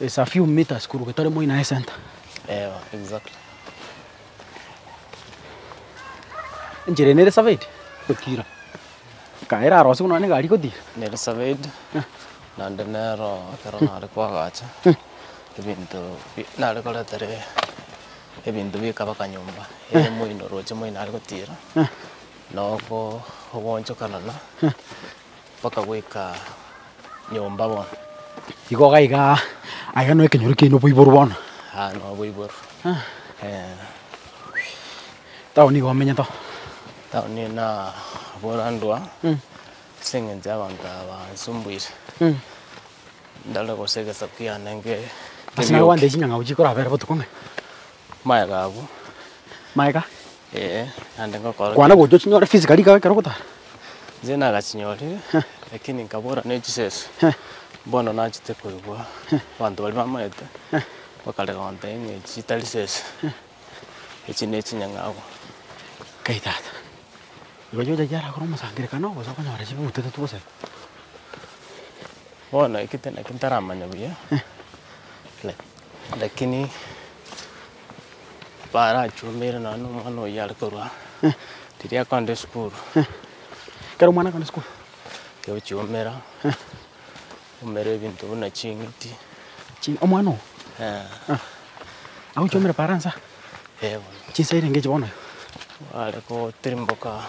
It's a few meters korwa getari moi naye center. Eeh, exactly. Enchera eye nere surveyed gotira. Kaa eraro ase buna nonye egari igotira. Nere surveyed naende nero ekero nare koagacha ebinto bi- nare koreta ere ebinto bikaba kanyomba ere moino roche moino nare gotira na oko- ogoonchokanana mpaka goika nyomba bono. Igo gaiga aye no ekenyoro kiaino boiboru bono. Ah, no boiboru. Eh, Town iga omenyete oo. taoni eye nabora ndwa Mm. ase eng'encho ya abanto aba bansumbuire. Mm. Ndore gose egesaku kiane nge- Ase nabo kebiyoki. bande chinyang'au chikorabere botuko ng'a Maega abwo. Maega. Ee, naende ngokora. Kwana gocha chinyore fees kari kaga ekero ogotara. Inche nagachinyore, lakini nkabora ne chisese. Bono nachete koigwa abanto baria bamaete bakarega kontebia ng'a echi chitari sese, echi ne chinyang'au. Nkai tata. Igo chiocha chiarakore omosangererekano, gose okonyora chibutete tu gose. Bono eke tinaki ntaramanya buya, lakini barachumeire nonya na omwana oyio are korwa riria akogenda esukuru. Ekero omwana akogenda esukuru. Egochiumera, aumera ebinto buna ching'iti. Omwana oo? Eeh. Agochiumera Faransa? Eeh bono. Chinsa eire ngechi bono igo? Are gotirimboka.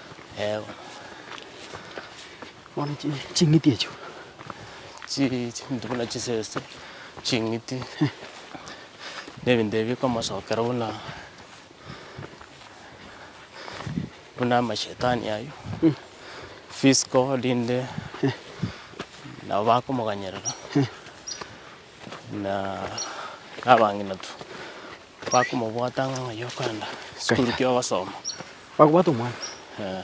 Eeh bono chi ching'iti echio chi chinto buna chisese, ching'iti na ebinto ebi bikomosokera buna buna amashetani aywo, physical rinde nabo bakomoganyerera. na abang'inatu bakomobwata ng'a ng'ai okogenda esukuru ki ogosoma. Bakobwata omwana. Eh,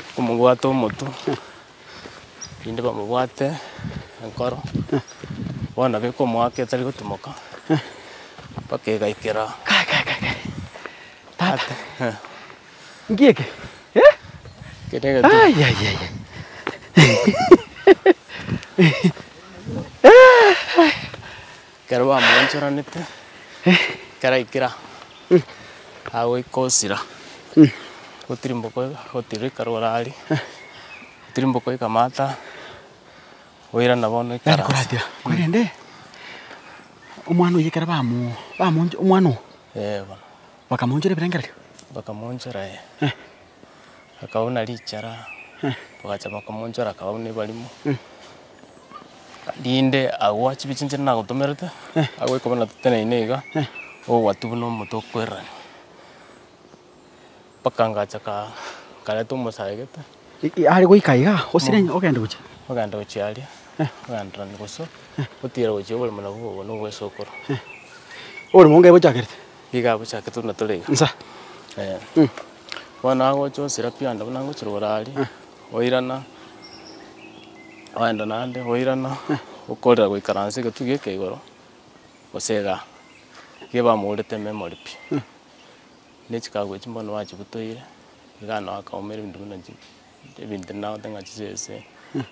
bakomobwata omotu, erinde bamobwate enkoro, bono nabo ekomoaka etari gotimoka, mpaka egaikera. Kai kai kai kai. Tata. Ate, eh. Nki eke? Eh? Kere egento. Ayayaya. Ekero bamoonchoranete, ekero aikire aa, agoika osira, gotirimboka gotirika rogoro aria, gotirimboka oika amato aa, oirana bono oika Yaani ranse. koratira korende omwana oyo ekero bamo bamoncho omwana oo Eh bono. Bakamoonchora ebirengererio? Bakamoonchora, ee. Akauna richara, bagacha bakamoonchora, akauna ebarimo, rinde agwo chibe chinche nagotomerete, agwo ekobe na toteneine iga, ogwatu buna omonto okwererania. Mpaka ngacha ka nkareta omosae gete. Are goika iga, osirenge ogende gochia. Ogenda gochia aria, ogendererania bosa, otiira gochia obore buna bwo obo nobwa esokoro. Oborimo onga ebochakerete. Iga bochake tuna tore iga. Nsa. Ee. Bono agocha osira pi onde buna ngochia rogoro aria, oirana, ogenda naende oirana, okorera goikaransa egetwe gieka igoro, gose igaa. Iga ebamorete memory pi. Ne chikagu echi mbono bachibutoire, iga nao akaumera ebinto buna chi, ebinto ebi nagote ng'a chisese,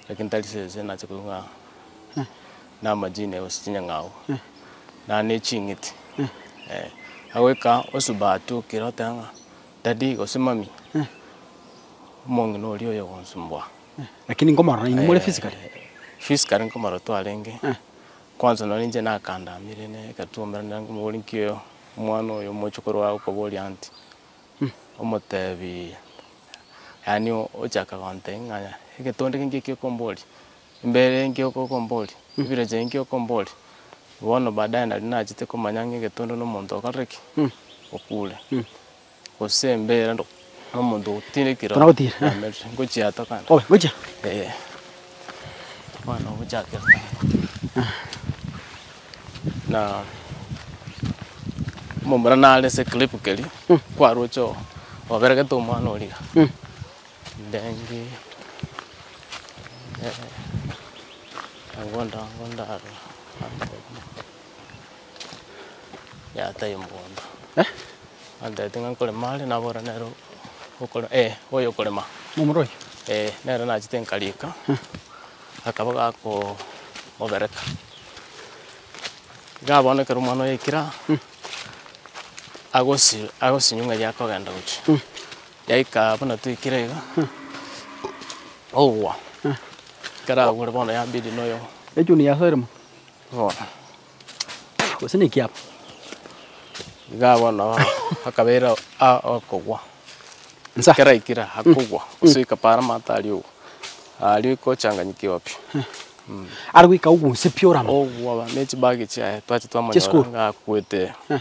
lakini tari sese nache koigwa ng'a na amajini gose chinyang'au, naende ne ching'iti, eh. Agoika osuba atoa okere oteba ng'a daddy gose mummy, omong'ina oria oyo ogonsumboa. Lakini nkomorora inwe more physically? Physically nkomorora twarenge, kwanza nonye inche nakandamire ne ekatuomera nere nkomobori nki oyo. Omwana oyo omochie korwa okoboria nti, Omotebi, yaani ochaka gonte ng'a egetonde keinki eki okomboria, embeera enki okokomboria, ebirecha enki okomboria. Bono baadaye nari nachete komanya ng'a egetonde na omonto okorire ki? Okure. Gose embeera ndo nomonto ogotira ekirori Tona gotira, eh. yamerire ngochia to kando Obe, gochia. eh. Bono ogochakera kando na omomura nare ase eclip keria kwaroche oo oberegete omwana oria iga Mm. ndenge eh, nabo ndabwo ndarora. yataiyo mogondo. Eh? Antebetie ng'a nkorema are, nabora nere o- okore eh, oyo okorema. Momura oyio? Eh, nere nachete nkariika, akaba gako mobereka. Iga bono ekero omwana oyoikire aa, agosi agosinywa ng'a erio akogenda gochia. Yaika buna toikire iga, ogwa, ekero agure bono yambidi noyo Echuni yasoire mono? gose naki aba? Igaa bono akabeira aa okogwa Nsa. ekero aikire aa akogwa gosoika paaro amato aria ogwa aria ogochanganyikigwa pi Are goika ogunse pi orama. ogwa ne chibag chiaye twache twamonyora Chesukuru. ng'a akwete ee.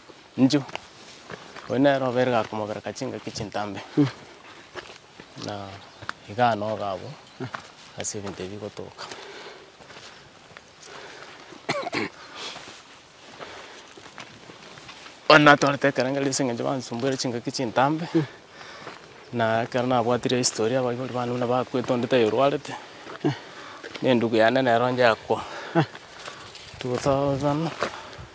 Inchuo, oyio nere obere gakomobereka chingaki chintambe, na iga anoga abwo ase ebinto ebi bigotoka. Bono natwarete ekerengerio ase eng'encho bansumbuire chingaki chintambe, na ekero nabwatire history abaibori bane buna bakwete onde taiyo orwarete, na endugu yane nero nchakwa, togosabana.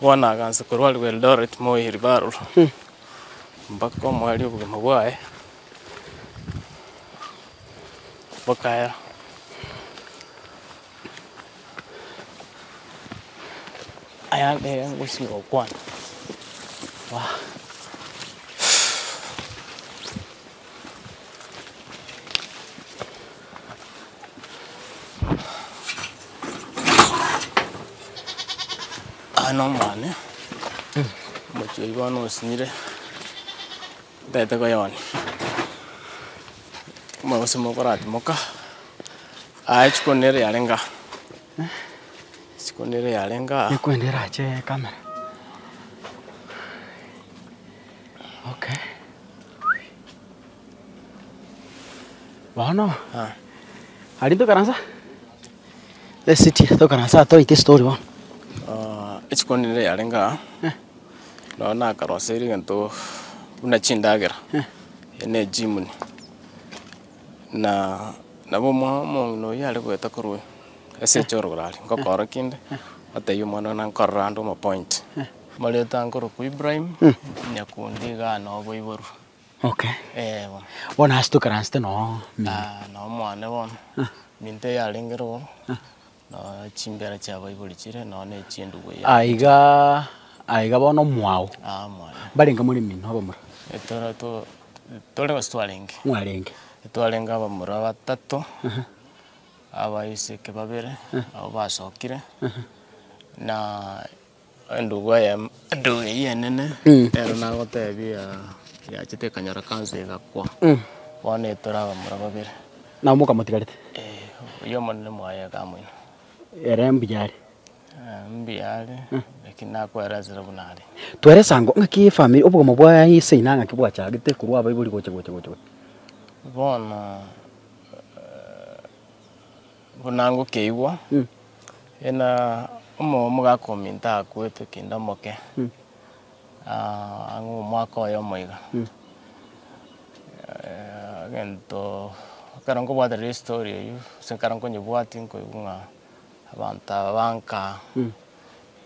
Bono agansa korwa aria Eldoret Moi Referral mpaka omwari obogima bwaye bokaya. Aya nere ngochia gokwana. Aa nomwane omochie oyio bono osinyire ntaete koyonia omogusii mokoratimoka aa rituko nere riarenge aa rituko nere riarenge aa. Ekwende erache ekamera okay. Bono aria ntokaransa esiti tokaransa toite story bono. Rituko riria riarenge aa, nonye nakaroseire egento buna chindagera ne echimoni, na nabo omwao omong'ina oyio are goeta korwa oyio ase echoyororo are, ngokora kende, otebia omwana one nkorere ande omopointe. Amareta ankorokwa Ibrahim, nyakundi iga aa noboiboru. Okay. Eh, bono. Bono ase tokaransete no Ah, na omwane bono minto yarengere oo no chimbera chia baibori chire no ne chindubu ya aiga aiga bono mwao ah mwane mbarenge more mino abamura etoro to tore gose twarenge mwarenge twarenge abamura batato abaiseke babere nabo basokire na. Endugu eye endugu eyio enene nero nagotebia yachete ekanyora cancer egakwa bono etore abamura babere. Nabo mokamotigarete. Eh oyio omonene mwaye akamoina. Ere mbuya are. Eh mbuya are lakini nakoerensera buna are. Tweresa ango ng'aki efamiri obogomo bwa seina ng'aki bwachagete korwa abaibori gocha gocha gocha gocha. Bono. Buna ngokeigwa, ena omogaka ominto akwetwe kinde omoke, ang'e omwaka oyomo iga. Egento ekero nkobwaterera estory eyio, gose ekero nkonyebwatia nkoigwa ng'a abanto aba banka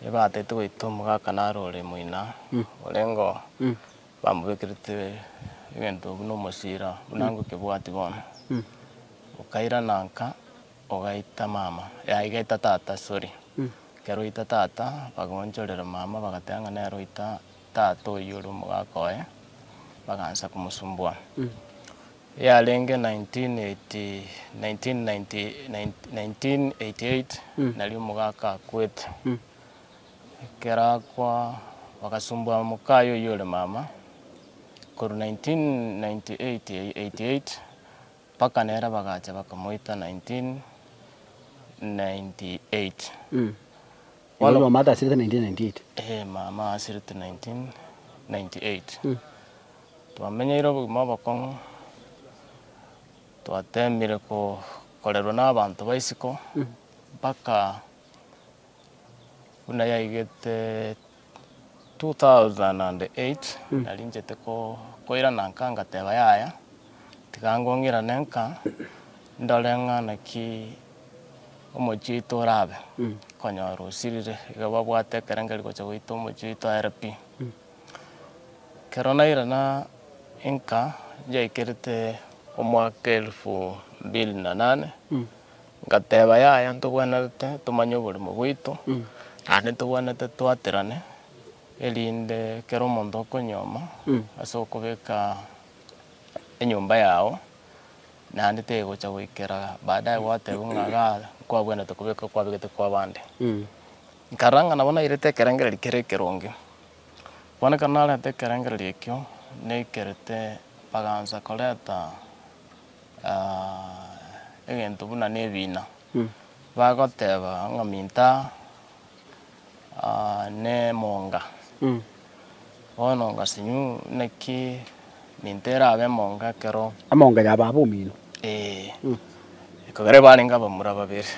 ebatete goita omogaka naro ore moino orenge oo. Bamobekerete egento buna omosira, buna angwe kebwati bono. Okairana nka, ogaita mama, yaya igaita tata, sorry. Ekero oita tata, bagaonchorera mama bagateba ng'a nere oita tata oyio ore omogaka oye, bagansa komosumboa. Yarenge nineteen eighty, nineteen ninety, nineteen eighty eight, nario omogaka akwete. Ekero akwa, bagasumboa mokaye oyio ore mama korwa 1988 mpaka nere bagacha bakamoita 1998. Bono Igo Mata asirete 1998. eh, mama asirete 1998. Twamenyeire obogima obokong'u, twatemire ko- korerwa na abanto ba isiko mpaka. Buna yaigete 2008 narinchete koirana nka ngateba yaya tiga ngong'irane nka ndore ng'a naki omochie oito orabe konyora osirire iga babwate ekerengeri gocha goita omochie oito aere pi. Ekero nairana nka yaikerete omwaka elfu mbili na nane Ngateba, Yaya, ntogwenerete tomanye oborimo bwaito, naende ntogwenerete twaterane, erinde kera omonto okonyoma ase okobeka enyomba yao, naende tegocha goikera baadaye gwatebwa ng'a iga nkwabwenerete kobeka okwabegete kwa abande. Nkarora ng'a nabo nairete ekerengererio kere ekeronge. Bono ekero narenta ekerengererio ekio, naikerete, bagansa koreta. egento buna nebina, bagoteba ng'a minto aa nemonga, bono ngasinyu naki minto erabe emonga ekero. Emonga yaba aba omino. Ee. Ekero barenge abamura babere,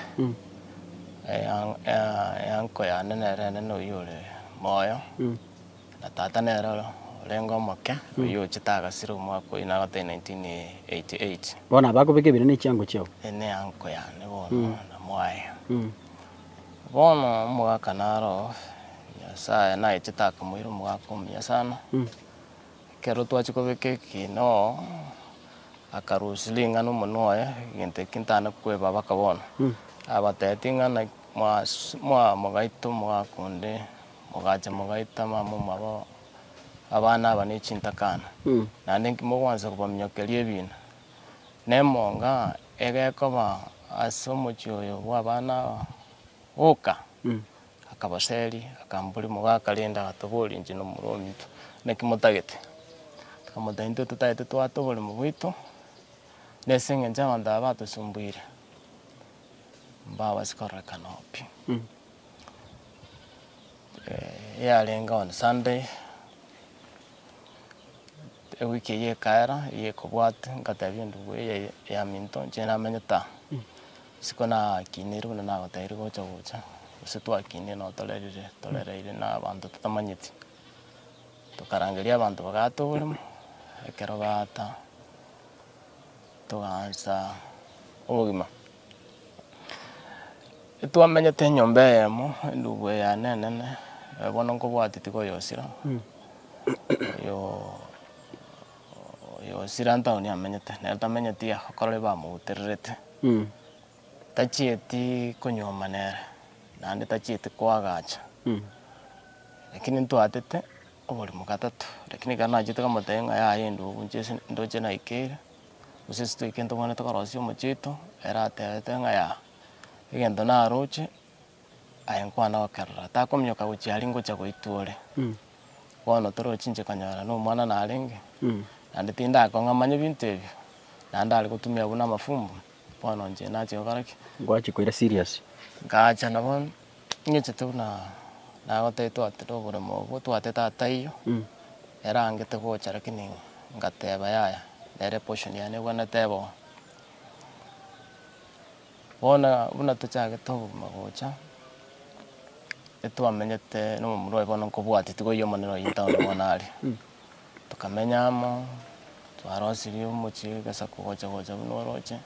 eya- eya- eya nko yane nere enene oyio ore moyo. Na tata nere ore orenge omoke, oyio ochete agasira omwaka oyio nagotebia 1988. Bono aba akobeka ebere ne chiango chiao. Eye ne uncle yane bono na mwaye. Bono omogaka naro Nyasaye nagechete akamoira omogaka omuya sana. Ekero twachia kobeka ekiina oo, aka loose ring'ana omonwe oye, egento ekio ntana kwebabaka bono. Abatebia ting'ana mwa mogaito omogaka onde. mogacha mogaita abamama aba abana aba ne chintakana, naende inki mogoancha kobaminyokeria ebiina? Nemonga egekoba ase omochie oyo bw'abana aba, boka. Akabaseria, akambori, mogaka rende agatobori inche na omorwa ominto, naki motagete? Tokamotebia, intwe totagete twata oboremo bwaito, na ase engencho abanto aba batosumbuire, mbabasi kororekana oo pi. eyarenge on Sunday, ewiki eyio ekaera eyio ekobwate ngatebia ende mbu eye ya minto inche namenyete aa. Isiko nakineirwe buna nagotebirie gocha gocha, gose twakinire nabo torerire torereire na abanto totamanyeti, tokarangeria abanto bagatogorema, ekero baata togaansa obogima. Twamenyete enyomba eyemo, endubu eyane enene, bono nkobwati tigoyosira, oyoo oyosira ntaoni amenyete, nere tamenyeti iga, ekero bamobutererete, tachieti konyuoma nere, naende tachieti koagacha, lakini ntwatete oborimo gatato, lakini ekero nachete nkamotebia ng'a yaya endubu nchie ndoche naikeire. Gose seto ekio ntobwanete korosia omochie oito, ere atebete ng'a yaya, egento naroche, aye nkwana gokerora, takominyoka gochia aria ngochia goitwa ore. Bono toroche inche konyora nomwana narenge, naende tindakong'a manye binto ebio, naende are gotumia buna amafumbo, bono inche nache gokora ki? Gwachia koira serious. Ngacha nabo Ting'echete buna nagotebitie ati noboremo obwo twate tata eyio erangete gocha lakini ngateba yaya nere portion yane igo nateba oo. Bono buna tochagete obogima gocha etwamenyete nomomura oye bono nkobwati tiga oyio omonene oyio town bono are. Tokamenya amo twarosirie omochie egesaku gocha gocha buna oroche.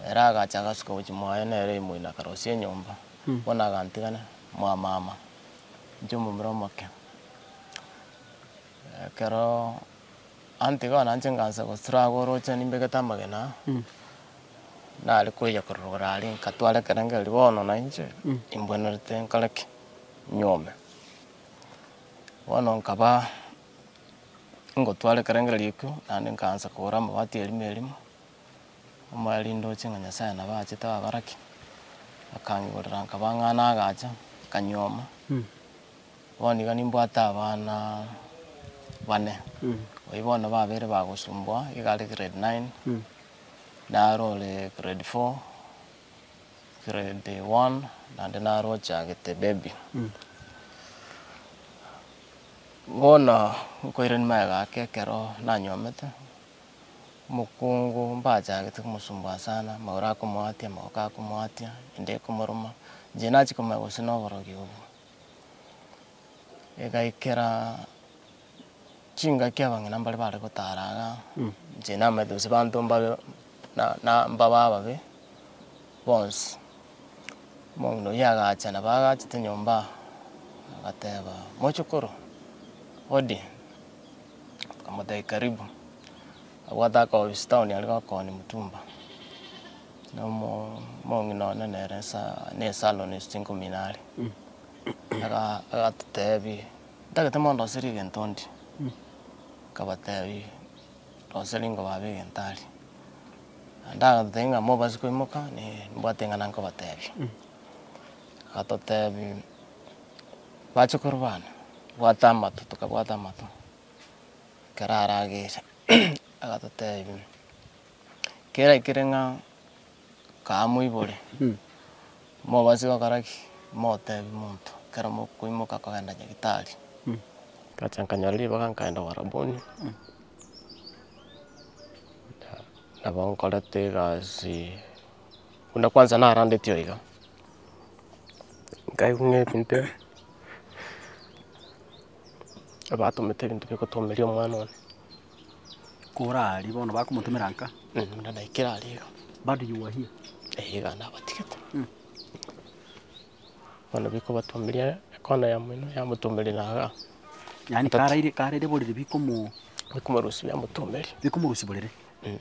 Ere agacha agasuka gochia moyo, na ere imoino akarosia enyomba, bono agantigana mwamama inche omomura omoke. Ekero antigao nainche ngansa gosira agwo oroche nimbegete amagena aa, nare koyia korora aria nkatwara ekerenge erio bono nainche imbwenerete nkore ki? Nyuome. Bono nkaba ngotwara ekerengere ekio, naende nkaansa kogora amabati erimo erimo. Omoriri ndoche ng'a Nyasae nabo aachete ababaraki, akangigorera nkabang'ana agacha, nkanyuoma. Bono iga nimbwate abana bane, oyio bono babere bagosumboa, iga are grade nine, nare ore grade four, grade one, naende nare ochagete baby. Bono nkoirania magega ake ekero nanyuomete. Omokungu mbachagete komosumboa sana, amagoro akomoatia, amaboko akomoatia, ende ekomoruma, inche nachia komanya gose noborogi obwo. Egaikera chingaki abang'ina mbare bare gotara iga, inche namanyete gose abanto mbabe na- na- mbabe ababe bonsi. Omong'ina oyio agacha nabo agachete nyomba iga, agateba, mochokoro, hodi, Akamotebia, Karibu. Agwo ataka gobisa etown aria gokoonia Mutumba. Na omong'ina one nere nsa- ne salon ase chinkomina are. Aga- agatotebia, Ntagete mondoserie egento ndie. Nkabatebia, Ndoserie ingo baba egento aria. Naende agatotebia ng'a mobasi koimoka, ne- nimbwate eng'ana nkobatebia. Agatotebia. Bachokoro bane, bwata amato, tokabwata amato, ekero aragecha agatotebia, kera ekere ng'a kaa moibore, mobasi gokora ki? Motebi monto ekero mokoimoka kogenda nyagetari. Ngacha nkanyora ribaga nkaenda obaraboni, nabo nkorete egasi. Buna kwansa narandeti oo iga, nkaigwa ng'a ebinto ebi abatomete ebinto bia gotomeria omwana one. Kora aria bono bakomotomera nka? Buna naikire aria iga. Bado you were here? Eeh iga nabatigete. Bono bikobatomeria ekona ya moino yamotomeria na iga. Yaani karaire, karaire borere bikomo? Bikomorusia biamotomeria. Bikomorusia borere? Eeh.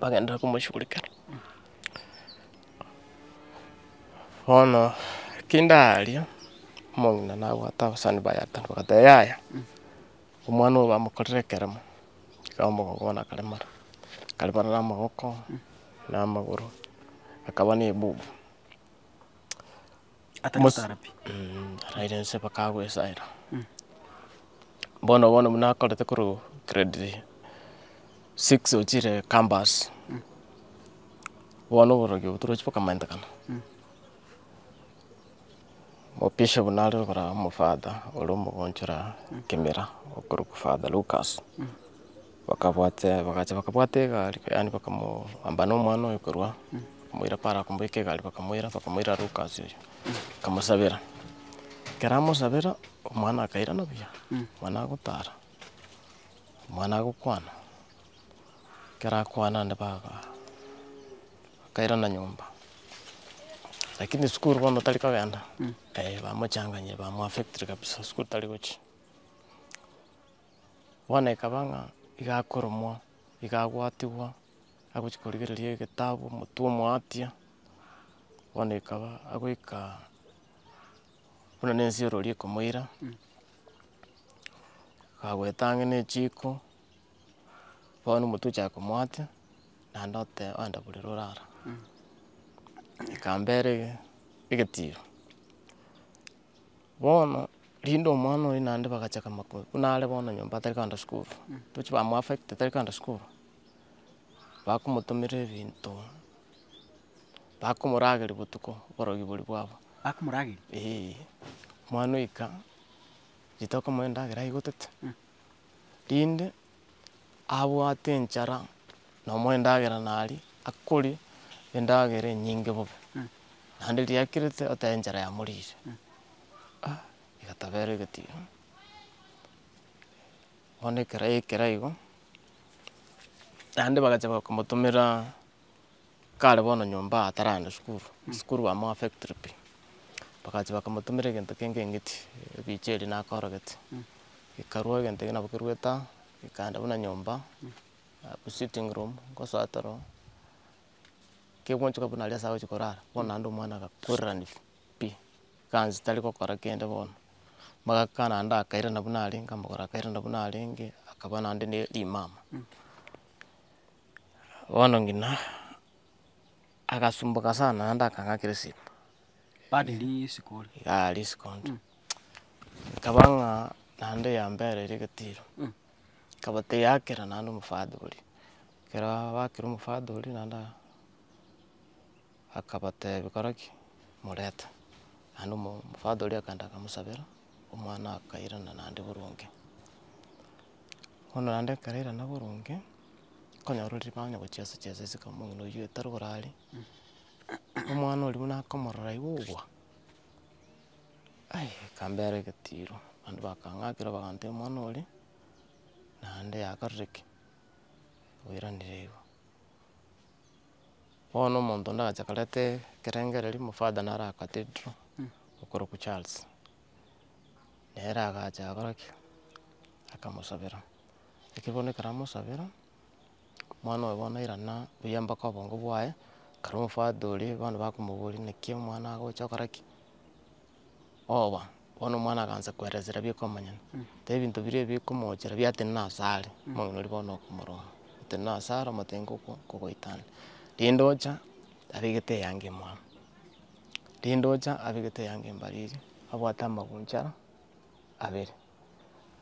bagenderere komoshugurikera. Bono ekio ndaria, omong'ina nabwate abasani baye ata, nabatebia yaya, omwana oyo bamokorire ekeremo, tiga omogogo bono akaremara, akaremara na amaboko, na amagoro, akaba na ebubu. Atari Mos- gotara pi. Araire nse bakagwesaera. Bono bono buna akorete korwa grade six ochire campus, bono oborogi obo torochi bokomentekana. Omopisha buna are okoraba omofather ore omogonchora Kimera okorokwa Father Lukas. Bakabwate, bagacha bakabwata egari, yaani bakamoamba na omwana oyo korwa, bakamoira paro akomoika egari bakamoira, bakamoira Lukas oyo, bakamosabera. Ekero amosabera, omwana akairana buya, omwana agotara, omwana agokwana, ekero akwana naende baga bakairana nyomba, lakini sukuru bono tari kogenda, bamochanganyeire, bamoaffectire kabisa, sukuru tari gochia. bono ekaba ng'a iga akoromwa, iga agwatigwa, agochia korigereria egetabu omotwe omoatia, bono ekaba agoika buna na ense orori ekomoira, akagweta ang'e na echiko, bono omotwe ochaka komoatia, naende oteba oenda borere orara. Ekambera ege- egetiro. Bono rinde omwana oye naende bagachaka koma ko- buna are bono nyomba atari kogenda sukuru, tochi ba moaffect tari kogenda sukuru, bakomotomera ebinto, bakomorageria botuko oborogi boria bwabo. Bakomorageria? Eeh, omwana oika, rituko okomoa endagera aigotete, rinde. abwate enchara nomo endagera naria akorie endagera enyinge bobe, naende riria akerete oteba enchara yamorire ah egatabera egetino. Bono ekero yaikera igo, naende bagacha bakomotomera. Kare bono nyomba ataragenda sukuru, sukuru amo a factory pi, bagachia bakamotumera egento kenge eng'iti, ebicha eria nakorogete, ekarwa egento ekio nabo kerwa etago, ekaenda buna nyomba, abwo sitting room ngosoa toro, kegochika buna aria ase agochia korara, bono naende omwana agakwererani pi, ekansi tari gokora kende bono, magaka naende akairana buna arenge, amagoro akairana buna arenge, akaba naende ne rimama. Bono ng'ina agasumboka sana naende akang'aka erisiko, Aria risiko ore. iga aria risiko ore, rikaba ng'a naende yambereire egetiro, ekaba teyakera naende omofati oria, ekero bakire omofati oria naende aa akabatebia kora ki, moreta, naende omo omofati oria akaenda akamosabera, omwana akairana naende boronge. Bono naende akarairana boronge. konyororeria bang'ina gochia ase chiaye ase esiko omong'ina oyio etari orare, omwana oria buna akomorora igo ogwa, ai akambera egetiro, abande bakang'akera bagantebia omwana oria, naende yakorire ki? Oiranire igo. Bono omonto onde agacha akareta ekerengererio, omofada naro aa cathedral, okorokwa charles, nere agacha agakora ki? Akamosabera. Ekero bono ekero amosabera, omwana oye bono irana buya mpaka obongo bwaye, ekero omofati oria bono bakomoboria naki omwana agocha gokora ki, oba, bono omwana akansa koeresa riria bika omonyene, tari ebinto biria ebi bikomochera biatenena ase are, omong'ina oria bono okomoroma, otenena ase are omotebie ngoko nkogoitana, rende ocha abegete eyanga imwamu, rende ocha abegete eyanga imbariri, abwate amaguncha abere.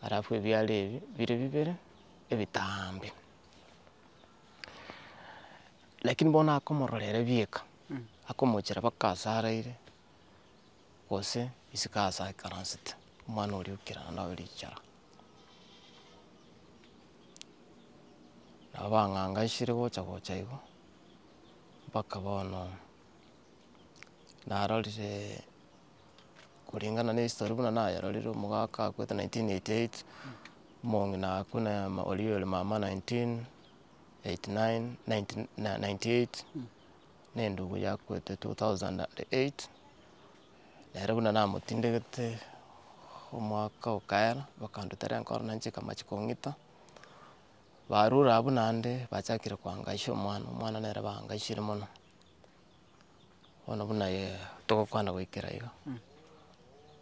alafu ebiara ebi bire bibere ebitaambe. Lakini bono akomorora ere bieka, akomochera mpaka aase araire, gose isiko aase aikaransete, omwana oria okerana naye richara. Nabo bang'angashire gocha gocha igo, mpaka bono. narorire kulingana na history buna nayerorire omogaka akwete nineteen eighty eight, omong'ina akwo na oria ore mama nineteen eighty nine nineteen ninety eight, na endugu yakwete two thousand and eight, nere buna namotindegete omwaka okaera bakanduta renkoro nainche ekamachi kong'ita, barure abwo naende bachakire koangaisha omwana, omwana nere baangaishire mono. bono buna yee togokwana goikera iga,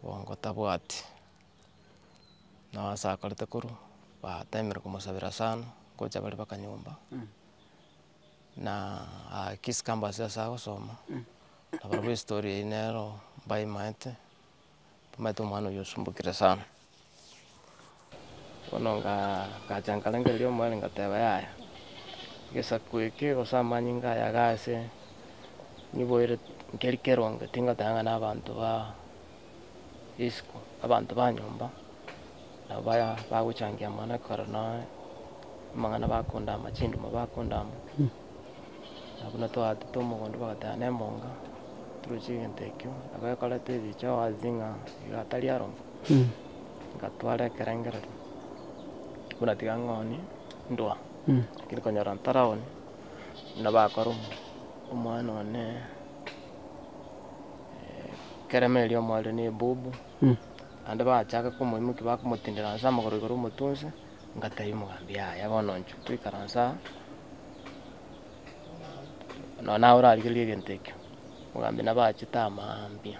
bongo tabwati, nao ase akorete korwa, batemire komosabera sana, ngocha bare mpaka nyomba, na akisi kambase ase agosoma, nabarabwo estori eywo nero mbaimanyete. Omanyete omwana oyio osumbukire sana, bono ngacha nkarangeria omwene ngateba yaya, egesaku eke gose amanyinga aya iga ase, niboire nkeri keronge tingoteba ng'a na abanto ba isiko, abanto ba nyomba, nabo baya bagochangia amang'ana ekero noe, amang'ana bakondama, chinduma bakondama. na buna twagachete omogondo bagateba ne monga, toruche egento ekio, nabo ekoreta ebicha wazi ng'a iga atari aroro, ngatwara ekerengerero, buna tiga ng'onie ndwa, lakini konyora ntari ago ne buna bakora omo- omwana one keremo eria omwarire ne ebubu, naende bachaka komoimokia bakomotindera inse amagoro igoro omotunse. Ngatebia omogambi, Yaya, bono inchuo toikaranse aa, nonya naye orarigererie egento ekio. Omogambi nabo achete amaambia,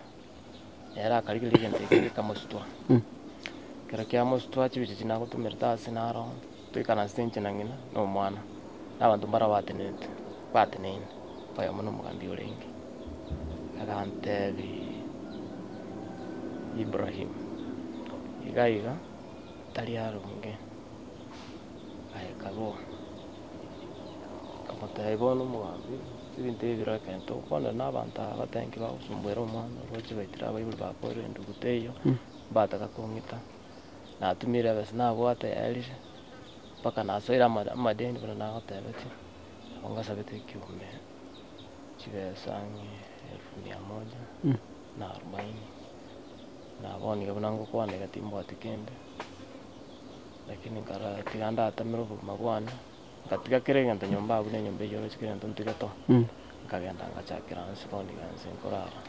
ere akarigereria egento ekio gikamosutua. Ekero kiamosutua chibicha echi nagotumerete ase naro toikaranse inche na ng'ina na omwana, na abanto mbare abatenerete, bateneine, oyomo na omogambi orenge. Agantebia, Ibrahim, iga iga. Tari aronge aye kaboa, akamotebia, Bono omogambi, ebinto ebi biro ekento okwanire na abanto aba bateba inki bagosomboera omwana oroche baitire abaibori bakoerire enduguta eyio, mbataka kong'ita. Natumire ebesa nabwate yaerire, mpaka nasoire ama- amadeni buna nagotebetie, nabo ngasabete ekiombe chibesa ng'a elfu mia moja na arubaini. nabo nigo buna ngokwana iga timbwati kende, lakini nkarara tiga ndatemere obogima bwane, ngatiga kera egento nyomba abwo na enyomba eyio oroche kera egento ntige too, nkagenda ngachakera inse bono iga inse nkorara.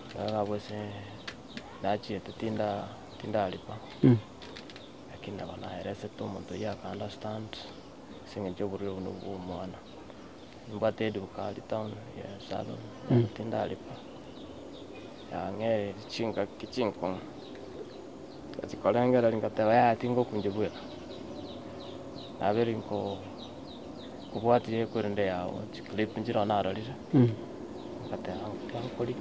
Nkarara abwo ase nachiete tinda tindariba, lakini nabo naeresete omonto oyio akanda stand ase eng'encho oborwaire obwo nabwo bwa omwana. Nimbwate eduka aria town ya salon tindaripa, yang'ereria chingaki chinkong'u, ngochi korengereria ngoteba yaya tingokunja bweka, naberi nko- nkobwatia eye korende yago chiclip nchire oo narorire, ngoteba nkiya nkoria.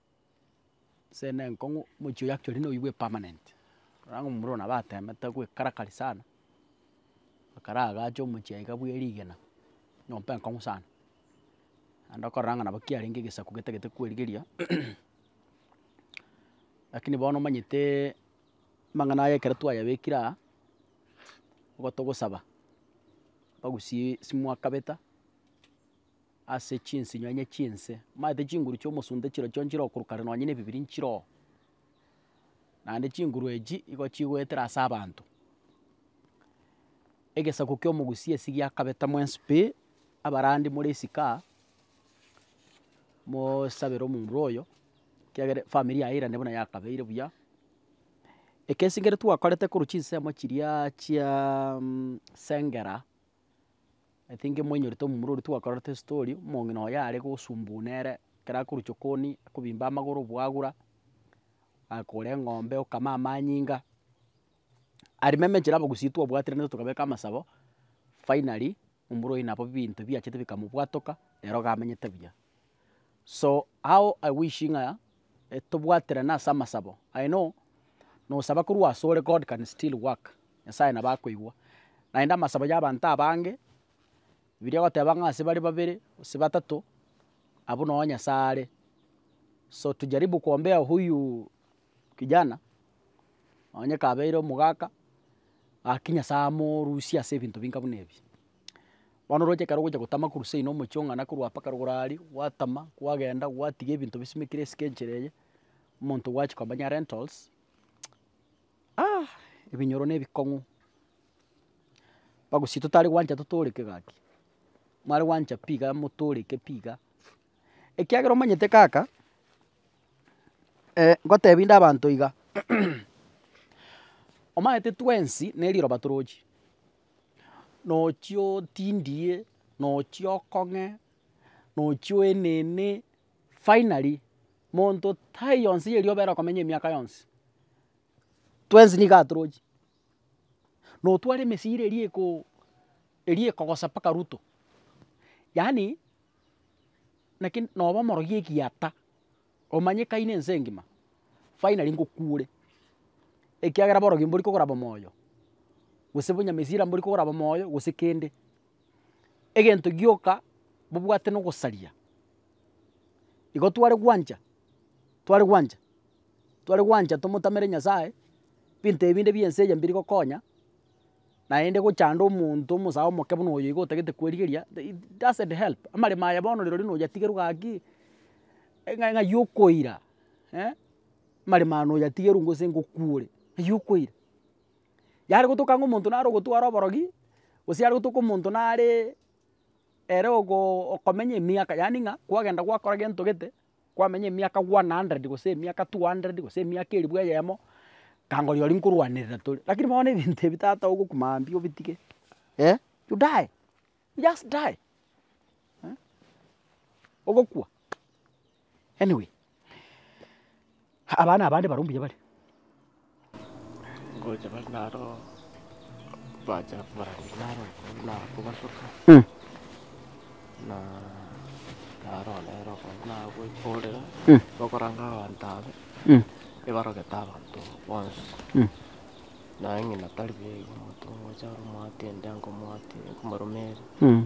Ase ne enkong'u omochie oye actually noyo bwe permanent, rora ng'a omomura oyo nabo atemete goekarakari sana, ekero agacha omochie iga bwe rigena, nyomba enkong'u sana, naende okorora ng'a nabo kiarenge egesaku getagete kwerigeria, lakini bono omanyeteeee amang'ana aya ekero twayabekire aa, nigo togosaba bagusie simwakabeta. ase chinsinyo enye chi'ense, mbaete chinguru chi'omosunte chire chionsi chirokorokana nonya nebibiri nchire oo. Naende chinguru echi nigo chigoetera ase abanto. Egesaku ki'omogusia esi giakabeta mwensi pi, abarandi more esiko aa, mosabere omonto oyo, ekiagera efamiri yaye erinde buna yakabeire buya. Ekesingere twakorete korwa chinsemo chiria chiaaa sengera. I think moinyorete omomura oria twakorete estory, omong'ina oye are gosumbuwa nere, ekero akorwa chokoni, akobimba amagoro bwagura, akore eng'ombe okame amanyinga, arimeme enchera abagusii twabwatire naintwe tokabeka amasabo, finally, omomura oye nabo ebinto biachete bikamobwatoka, nere iga amenyete buya. So how I wish ng'a tobwaterane ase amasabo, I know nosaba korwa asore God can still work, Nyasaye nabo akoigwa, naende amasabo ya abanto abange, Bibilia egoteba ng'a ase bare babere gose batato abwo noo Nyasaye are, so tujaribu kuombea huyu kijana onye kabeire omogaka, gaki Nyasaye amorusie ase ebinto binga buna ebi. Bono oroche ekero ogocha gotama korwa seino omochie ong'ana korwa apa ekero ogoro aria, gwatama, gwagenda, gwatiga ebinto bisimekire esike enchera eye, omonto gwachia komanya rentals, ah ebinyoro na ebikong'u, bagosi totari gwancha totoreke gaki, mware gwancha pi iga motoreke pi iga, ekiagera omanyete kaka, ngotebi inde abanto iga, omanyete twensi ne riroba torochi, nochi otindie, nochi okong'e, nochi oenene, finally monto taiyo yonsi erio obere okomenya emiaka yonsi, twensi nigo atorochi, notware emesira eria ekoo eria ekogosa mpaka ruto, yaani naki noba omorogi egiata. omanyekaine ense engima, finally ngokuure, ekiagera borogia mbori kogora bomoyo, gose bonyamesira mbori kogora bomoyo gose kende. Egento gioka bobwate na ogosaria, igo tware gwancha, tware gwancha, tware gwancha tomotamere Nyasaye, binto ebinde bia ense eye mbiri gokonya. naende gochanda omonto omosae omoke buna oyo iga otagete kwerigeria, it doesn't help, amaremo aya bono rirorio noyatigerwe gaki, ng'a ng'ai okoira eh, amaremo aya noyatigerwe gose ngokwore, ng'ai okoira. Yare gotoka ng'a omonto nare ogotwara oborogi, gose yare gotoka omonto nareee ere ogo okomenya emiaka yaani ng'a kwagenda gwakora gento gete. kwamenya emiaka one hundred gose emiaka two hundred gose emiaka elifu eyemo, kangoria oria nkorwanerera tore. Lakini bono ebinto ebi tata ogokwa mambia obitige eh, you die, you just die eh, ogokwa anyway. Abana abande barwa mbuya bare. Ngocha bare naro bacha barenge naro okondi naro kobasoka Mm. na naro nere okondi naro goikorera Mm. gokoranga abanto abe Mm. ebarogete abanto bonsi Mm. naye ng'ina tari buya igo omonto ngocha ore omwati ende ankomoatie nkomorumerie. Mm.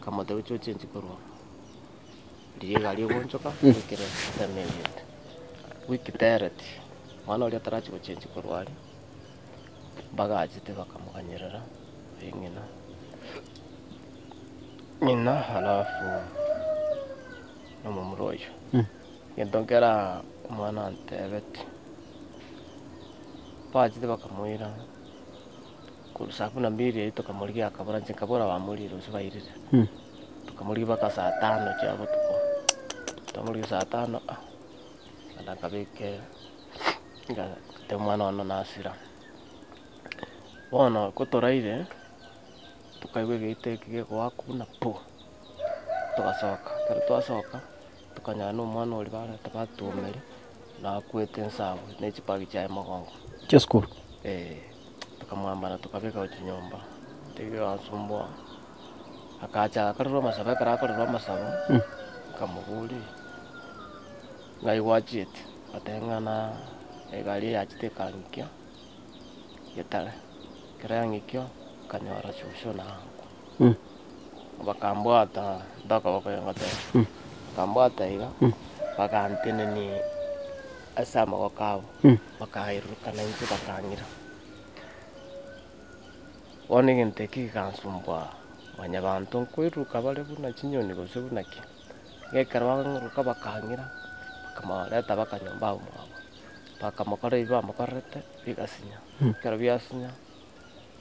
Akamotebia, Oche ochenchie korwa oo. Riria egari egoonchoka, baikire ensemo eyio. Week tereti, omwana oria tarachia gochenchia korwa aria, mbagachete bakamoganyerera ee ng'ina, ng'ina alafu na omomura oyio. Egento nkere aa omwana antebeti, baachire bakamoira. Korwa saa kumi na mbili erio tokamorigia akabora inche nkabora bamorigia rusia bairire. Tokamorigia mpaka saa tano chia botuko, twamorigia saa tano nkaenda nkabeka ngatebia omwana one nasira. Bono kotoraire tokaigwa egeita eke gekoaka buna puu! Togasoka, ekero twasoka Tokanyora nomwana oria barenta batuomere, nakwete ensabo ne chipagi chiaye mogongo. Chia sukuru. Ee, tokamwambara tokabeka gochia nyomba, taiga iga asumboa, akacha akarora amasabo ekero akorora amasabo, nkamoboria, ng'ai gwachiete? Ngateba ng'ana egari eyachete ekang'ikia getare, ekero yang'ikio, nkanyora shosho naye angokwa. bakambwata ntokoboko iga ngoteba, bakambwata iga, bagantenenia ase amagoko abo, bakaerurukana intwe bakang'ira. Bono egento ekio gigansumbua mwanyabanto nkoiruruka bare buna chinyoni gose buna ki, iga ekero bang'iruruka bakang'ira, bakamoreta mpaka nyomba abwo mwabo, bakamokora ebi bamokorerete bigasinya, ekero biasinya.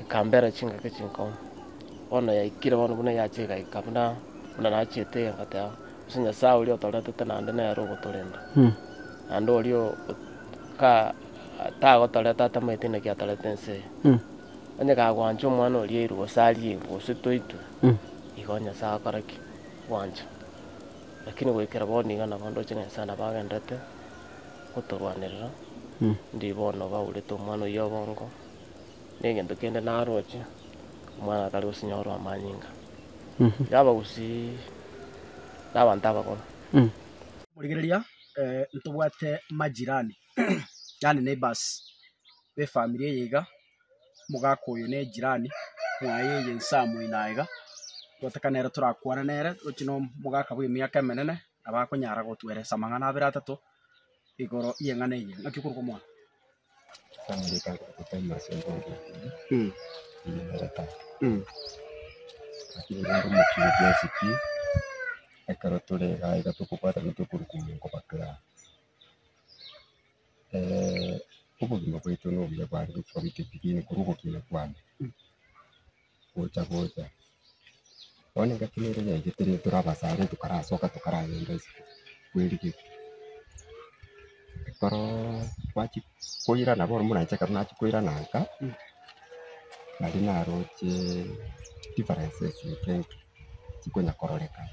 ekambera chingaki chinkong'u. Bono yaikire bono buna yachia egaika buna buna nachete iga ngoteba, ase Nyasae oria otoretete naende nere ogotorenta, naende oria o- o ka tagotoreta atamaeti naki atorete ense eye. Onye kagwancha omwana oria airwe gose arie airwe gose toitwe, igo Nyasae agokora ki? Gwancha. Lakini goikera bono iga nabo ndoche ng'a Nyasae nabo agenderete. gotorwanerera, ndiri bono baurete omwana oyio obongo, negento kende naroche, omwana tari gosinyorwa amanyinga. Iga abagusi nabanto abakoro. Rigereria, ntobwate majirani, yaani neighbours, befamiri eye iga, omogaka oyo nejirani mwaye eye inse aa moino aiga, goeteka nere torakwane nere, tochi nomogaka bwemiaka emenene, nabakonyara gotweresa amang'ana abere atato igoro y'eng'ana eye. Naki okoruga omwana? gocha gocha. Bono egati nere yaigete rero tore abasare tokarasoka tokaragenda isiko bwerigeti. Ekero twachia koirana bono moranche ekero nachia koirana nka, nari naroche differences eke enke chikonya kororekana.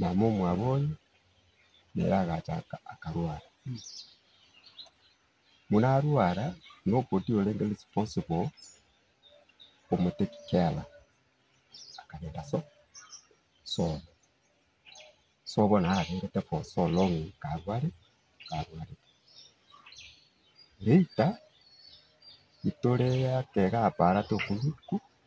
mama omwabo oye nere agacha akarwara. Buna arwara noboti orenge responsible omo take care akagenda so sobo. Sobo bono ararengete for so long karware karwarete. Later itore ake gapara tokorikwa.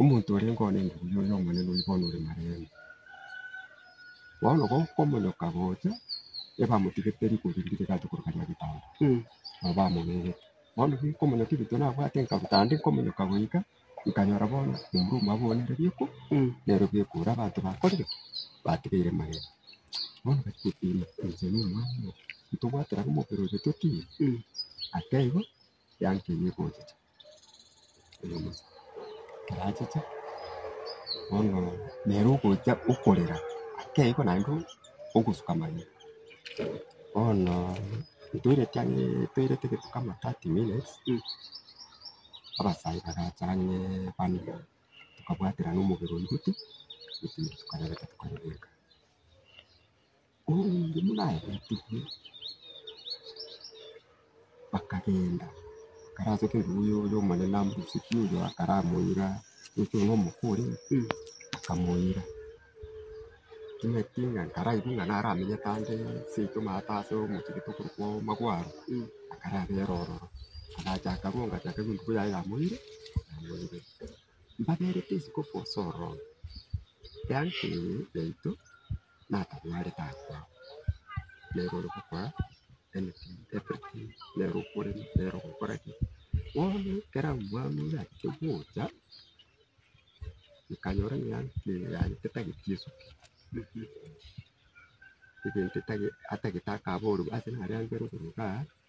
Omonto oria nkoa nende obuya oyo Omonene oyi bono ore maremo. Bono gokomonyoka gocha, ebamotigete rikori riria rigachia korwa ria ebitambo, nabo bamobegete. Bono rikomonyoka ebinto nabwate nkaruta ande nkomonyoka goika, nkanyora bono omura omo abonire riko, nero bikura abanto bakorire ki? Batigeire magega. Bono bachia goteema, Inche nomwana oo, intobwate nabo omobere oyo totiire? Ata igo. Yankeirie gochicha oyo omochie, ekero achiche bono nere ogocha okorera akeigwa naende ogosuka amagena. Bono ntoireti ang'e ntoireti gento kama thirty minutes abasayi bagacha ang'e bane tokabwaterana omobere oyio goti, gotenena tokarebe tokarebeka. Obundi buna abetigwe bakagenda, bakarache keguya oyo omonene amosike oyo akaramoira, goika iga omokore akamoira. Timanyeti ng'a ekero aigwa ng'a naramenyete ande seito mara ase ase omochie gete okorokwa omogwaro, akarabera ororo, akacha akagonga ati akaigu eng'umbu yaye yamoire, yamoire. Mbaberete isiko forsa ororo, eanchororo yaito natang'are taakwa, nere ore gokora anything, everything, nere okorema, nere ogokora ki. Bono ekero omwami oria achia gocha, nkanyora ng'a emeri yane tetageti esoki, egento etage atagete akaboorwa ase nare angere okoruga aa.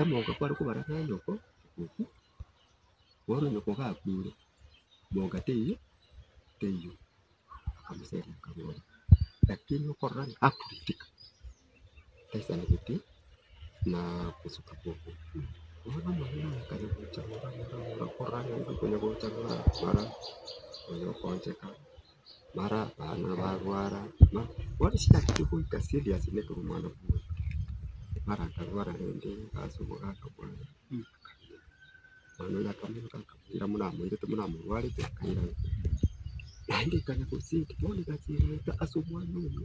Omonto kware kobara ng'a nyoko okwo, bono nyoko gakure, monka teiyo teiyo, akamoseria akaboria, lakini okorora ng'a akorigetika, taisaneretie na gosuka kw'oka okwo. Bono amang'ana aya kare gocha gocha gocha, okorora ng'a nigo okonya gocha, mara okonya gokoncheka. mara abana barwara na bono chiatanchire goika serious nekero omwana bwoye mara akarwara rende gasoboka akabua ng'a akaira, omwana oye akamenyeka akaira buna amoirete buna amorwarete akaira naende ekana gose bono egasi egoeta ase omwana oye.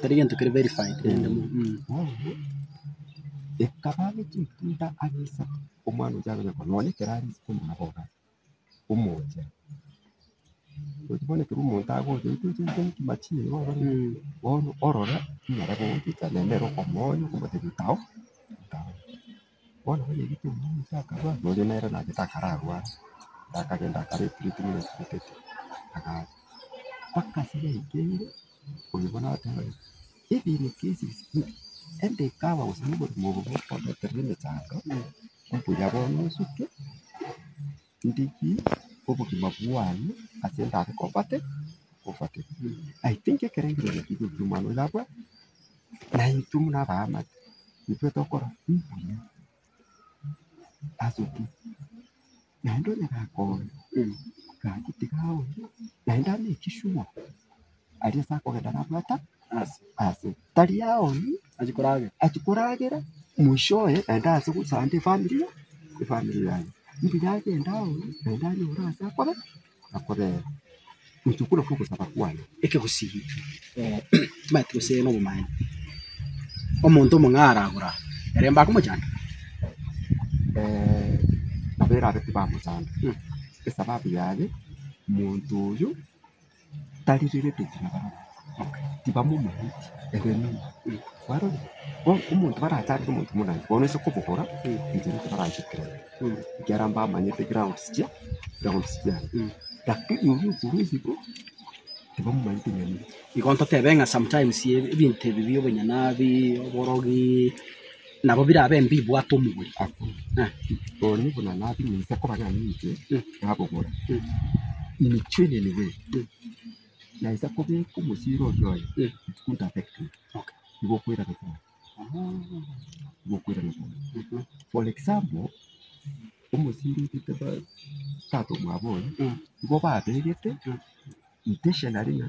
Tari gento kere verified rende mono Ekaba ne chintunda age isato, omwana oria akonya korora nonya ekero are isiko muna bobe omoche. Gochi bono ekero omonto agocha intwe chiaito nkima chiire bono orore nere bobe ocha nende ere okomonya okomotebia tao tao. Bono banyegete omonto oyomo akarua, na oria nere nabete akararware, na akagenda akara ebiritimi asibetete, akagenda mpaka ase yaikeire, oyo bono agateba ng'a ebinto ebi bire endikaaba gose na oborimo obo bokobeterera emechando, mbuya bono osuke. ndiki obogima bwane ase ndare kobwate obwate I think ekerengererio keria ekio omwana oyo abwate na intwe buna abaamate intwe tokora mbuya ase ki naende onyare akonya gaki tiga aonye naende ane ekishugo Aria ase akogenda nabwata ase, tari aonye achia koragera mwishowe naende ase gosanta efamiri efamiri yaye. Mbuya agende aonye naende anyore ase akobe akobere gochia okobuna kwa ogosaba kwane. Ekegusii timanyeti gose na obomanyeku omonto omong'aa aragora ere mbakomochanda? nabo erabe tibamochanda esababu yaye monto oyio. taririrete echina barabwo tibamomanyeti egenene kwarorire bono omonto baracharete omonto monene bono ase okobogora inche ninche baranche kirori ekiagera mbamanyete grounds chia grounds chia lakini oria okoru esiko tibamomanyeti egenene. Igo ntotebe ng'a sometimes ebinto ebi bia obonyene abi, oborogi. Nabo birabe mbibwate omogori. Abwo bonye buna nabiminsa koba nane inche, nabogora, Imichie eneniwe, naisa kobeka omosiri oria oye, it couldn't affect me. Igo okoirana kore, igo okoirana kore. For example, omosiri otete ba tata omwabo oye, igo babegete intentionally ng'a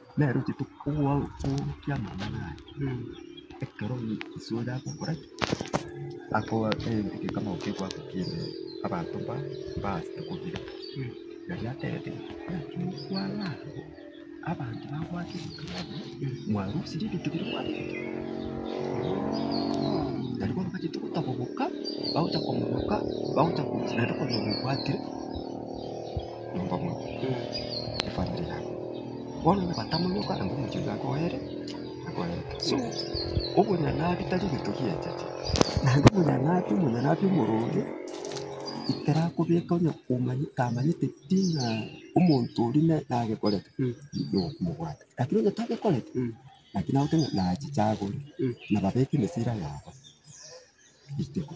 Nere ochete kogokiamana naye ekero ise oria agokora ki? Akoa egekamau kegoaka ki'ebibe abanto mbao mbaasete kobira. Naki atereti ng'a kwarara abanto bagoake egekamau mwarusirie ebinto biria mwabete. Naende bono bachete gotaboboka bagocha komoboka bagocha korisia naende konya obwatire. nyomba mono, efamiri yabo, bono nabatamonyoka anga omochie oyio akoere, akoerete. So, obonyanabi tari egento giachacha, naende obonyanabi, omonyanabi omoronge, ekerakobeka onye komanya tamanyete pi ng'a omonto oria ne nagekorete, nokomobwata. Lakini onye tagekorete, naki nagote ng'a nachichagore, nababeke emeseria yabo, ritiko.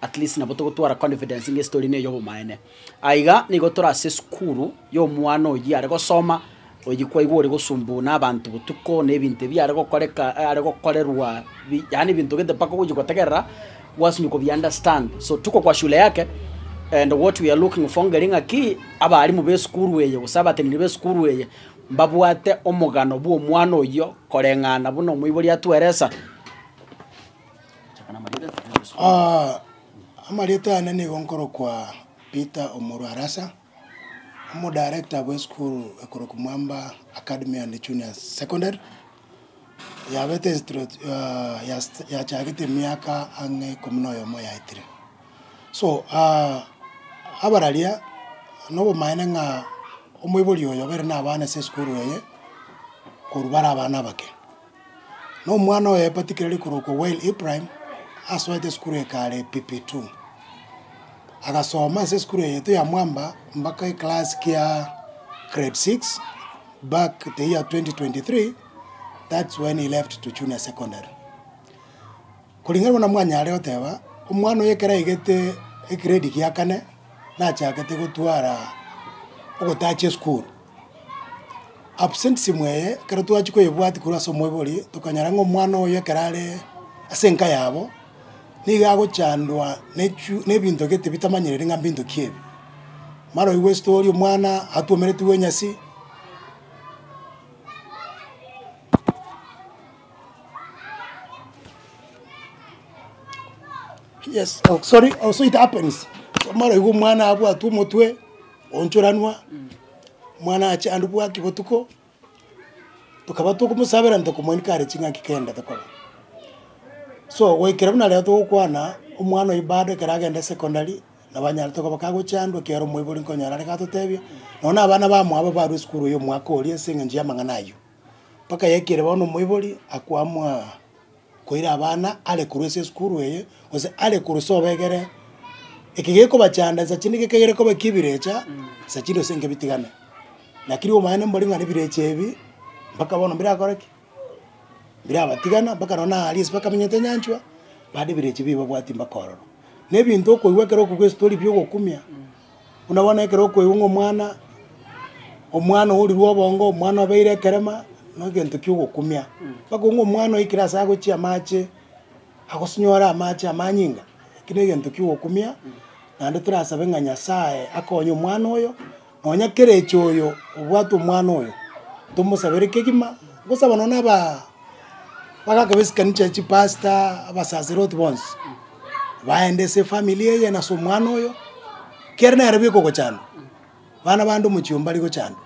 At least nabo togotwara confidence ng'a estory neye obomaene. Aiga nigo tore ase esukuru y'omwana oyio are gosoma, oyio kwaigwa ore gosumbua na abanto botuko, na ebinto ebi are gokoreka, are gokorerwa bi, yaani ebinto gento mpaka ogochia gotegerera gwasinywa kobi understand. So tuko kwa shule yake, and what we are looking for ngeri ng'aki, abalimu b'esukuru eye gose abateneneri b'esukuru eye, mbabwate omogano bw'omwana oyio koreng'ana buna omoibori atweresa. Amarieta yane nigo nkorokwa Peter Omoro Arasa, omodarector bw'esukuru ekorokwa Mwamba Academy and Junior Secondary, yabete instrut yachagete emiaka ang'e ikomi na oyomo yaetire. So abararia na obomaene ng'a omoibori oyo obeire nabana ase esukuru eye korwa bare abana abake. na omwana oye Patikireri korokwa Wael Ibrahim asoete esukuru eke are PP2. Agasoma ase esukuru eyeto ya mwamba mpaka eclass kia grade six back the year 2023 that's when he left to junior secondary. Koring'ana buna mwanyare goteba, omwana oye ekero aigete egrade gia kane nachakete gotwara ogotacha esukuru. Absentism eye ekero twachia koyebwatia korwa ase omoibori, tokonyora ng'a omwana oyo ekero are ase enka yabo, nigo agochandwa ne echu ne ebinto gete bitamanyereti ng'a mbinto ki ebi. Mara oigwe story omwana atwomeretigwe enyasi. Yes, oh sorry, also it happens, mara oigwe omwana abwatwe omotwe. Onchoranwa, mwana achandwe bwaki botuko, tokaba togomosabera onye tokomoni kare ching'aki kende tokore. So goikera buna rero togokwana omwana oyo bado ekero agende secondary, nabo anyare tokoba kagochandwa ekiagera omoibori nkonyora are gatotebia, nonya na abana bamwabo abarwa esukuru ya omwaka oria ase eng'encho y'amang'ana ayio. Mpaka yaikire bono omoibori akwamwaa. koira abana are korwa ase esukuru eye, gose are korwa ase obegere, eke gekobachanda nsa chinde geke kegere koba ekia ebirecha, nsa chinde gose nkebitigane. Naki riria omanyete mbori ng'a nebirecha ebi, mpaka bono mbirakore ki? Mbirabatigana mpaka nonye na aria ase bakamenyete nyanchwa, bande ebirecha ebi babwati mpaka ororo. Na ebinto okoigwa ekero okogwa esitori biogokumia. Buna bono ekero okoigwa ng'a omwana, omwana ourirwe obongo, omwana obeire ekerema, negento kiogokumia. Bakoigwa ng'a omwana oikire ase agochia amache, agosinyore amache amanyinga, eki negento kiogokumia, naende torasabe ng'a Nyasaye akonye omwana oyo, nonya kera echoyo obwate omwana oyo, tomosabere kegima, gosaba nonye naba. Bagakeba esikarini chia chipasta, abasaseroti bonsi, baenda ase efamiri eye na ase omwana oyo, kere nere bikogochandwa, bana bande omochie oo mbari gochandwa,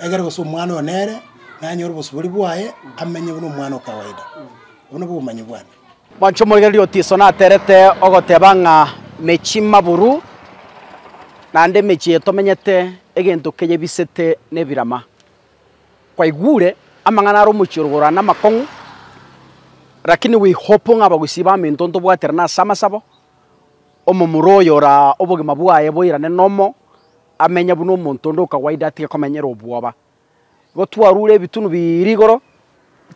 egere gose omwana oyo nere, nanyore obosubori bwaye, amenye buna omwana o kawaida. Obwo nabwo obomanyi bwane. Mwanche omoregereria otiso naterete ogoteba ng'a mechie maburu, naende emechie eye tomenyete egento keyebisete nebirama. kwaigure amang'ana are omochie rogoro namakong'u, rakini we hope ng'a abagusii baminto ntobwaterana ase amasabo, omomura oyo oraa obogima bwaye boirane nomo, amenye buna omonto onde okawaida atige komenyera obwoba. Igo twarure ebitunu biiiri igoro,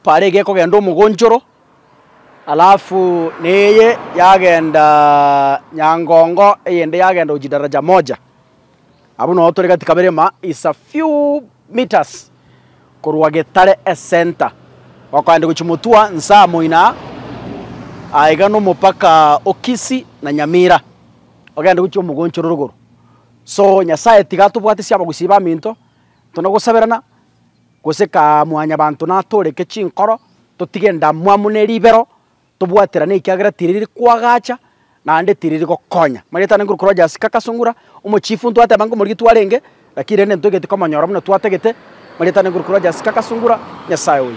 Parege ekogenda omogonchoro, alafu neye yagenda Nyangongo, eyende yagenda gochia Daraja Moja. Abwo nabo tore gati kabere ma is a few metres korwa Getare Ecenter. Gokoenda gochia Mutua, Nsaa moino aa, aa iga nomopaka o Kisii na Nyamira, ogende gochia omogonchoro rogoro. So Nyasaye tiga atobwatisia abagusii baminto, intwe na gosaberana. Gose ka mwanyabanto natooreke chinkoro, totige endamwamu ne ribero, tobwaterane ekiagera tiriri koagacha, naende tiriri gokonya. Marieta ninguru korwa Jasika Kasungura, omochifu ntwateba ng'a omorietu arenge, lakini rende ntwegete komonyora buna twatagete. Marieta ninguru korwa Jasika Kasungura, Nyasae oye.